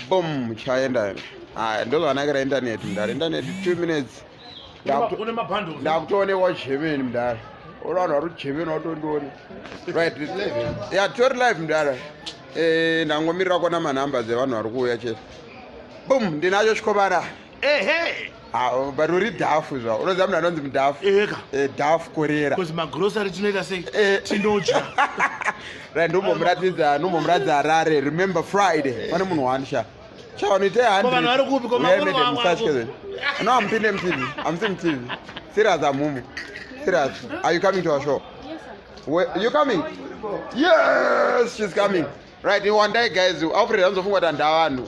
boom chaenda ende haya ndozvanakira intaneti mdara intaneti two minutes ndakutoonekwa jemeni mdara uri vanhu vari kujemeni watondione right ya tori live mdara eh, ndangomirira kuona manumber dzevanhu vari kuuya chete boom ndinacho chikobara ehe bari uri dhafu zva unoziva munhu anonzi mudhafu eheka eh, dhafu korera bcause magrosary tinoita sei eh. tinodya ra ndombomuratidza ndombomuratidza harare remember friday pane munhu wani sha sha vanoita hanvanhu vari kupi komamusachke no am pinde mtv am si mtv serious am mumu serious are you coming to our show Where, you coming yes she's coming right iwandai guys aufreda anozofungwa kuti handavanhu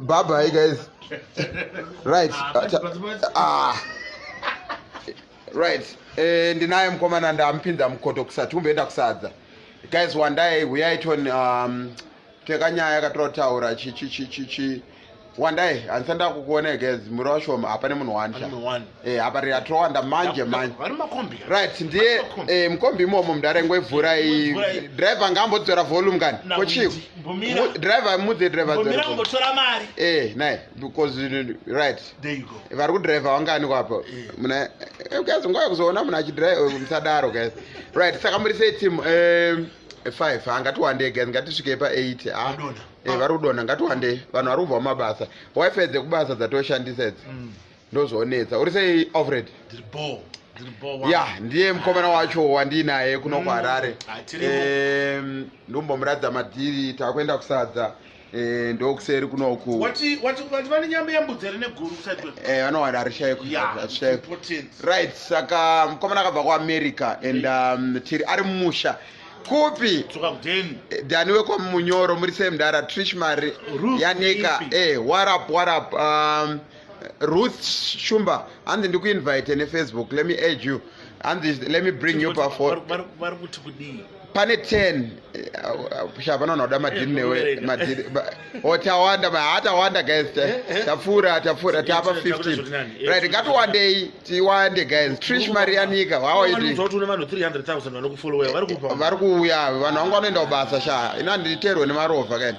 Bye bye, guys. right. Ah. Right. Eh, ndinaye mkomana ndampinda mkoto kusati umbeenda kusadza. Guys, one day we are on um tekanyaya yakatotaura chi chi chi chi chi. One day, and send out one guys, Muroshom, Apane Munwani. Eh, apa riri atowanda manje manje right ndiye eh, mukombi imomo mdare ngwevhura driver ngaambodzora volume kani kochiiko driver mudze drivermari eh, naye because right vari kudriver wangani kwapa eh. muna guys nguva yekuzoona munhu achidrive musadaro guys right saka muri sei team five hangatiwandei guys ngatisvikei pa eight ah. vari kudonha ngatiwandei vanhu vari kubva mumabasa wifi dzekubasa dzatoshandisa idzi mm. ndozvonetsa uri sei alfred ndiri boo ya ndiye mukomana wacho wandiinaye kuno mm, kuharare ndombomuratidza madhiri takuenda kusadza eh, ndokuseri kunoku eh, vanowana arishaiko right saka mukomana akabva kuamerica and um, tiri ari mumusha kupi eh, dani wekwamunyoro muri semdara trish mari yanika warap warap um, Ruth Shumba hanzi ndikuinvite nefacebook let me add you hanzi let me bring you pafon vari kuti kudii pane 10 sha vanoona kuda madhiri newe madhiri o tawanda hatawanda guys eh, eh. tapfuura tapfuura tapa 15 right ngatiwandei tiwande guys trish marianika hwawavari kuuya vanhu vangu vanoenda kubasa sha ina nditerwe nemarovha kaini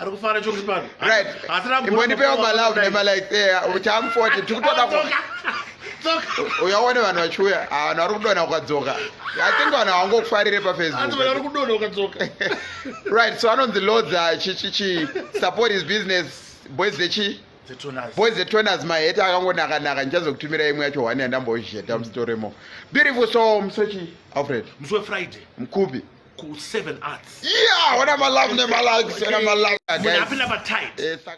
ari kufara chori pano right imbondipewo malove nemalike eh, chamfoti tikutoda uyaone vanhu vachiuya ah, vanhu vari kudona ukadzoka i think vanhu havangokufarire pafacebook right so anonzi lodza ah, chichichi support his business boys zechi boys the toners mahete akangonakanaka ndichazokutumira imwe yacho one yandambozheta musitoremo beautiful so musochi alfred musi wefriday mkupi ku seven arts yeah wana malavu ne malags wana malavu munhu apinda pa tight eh,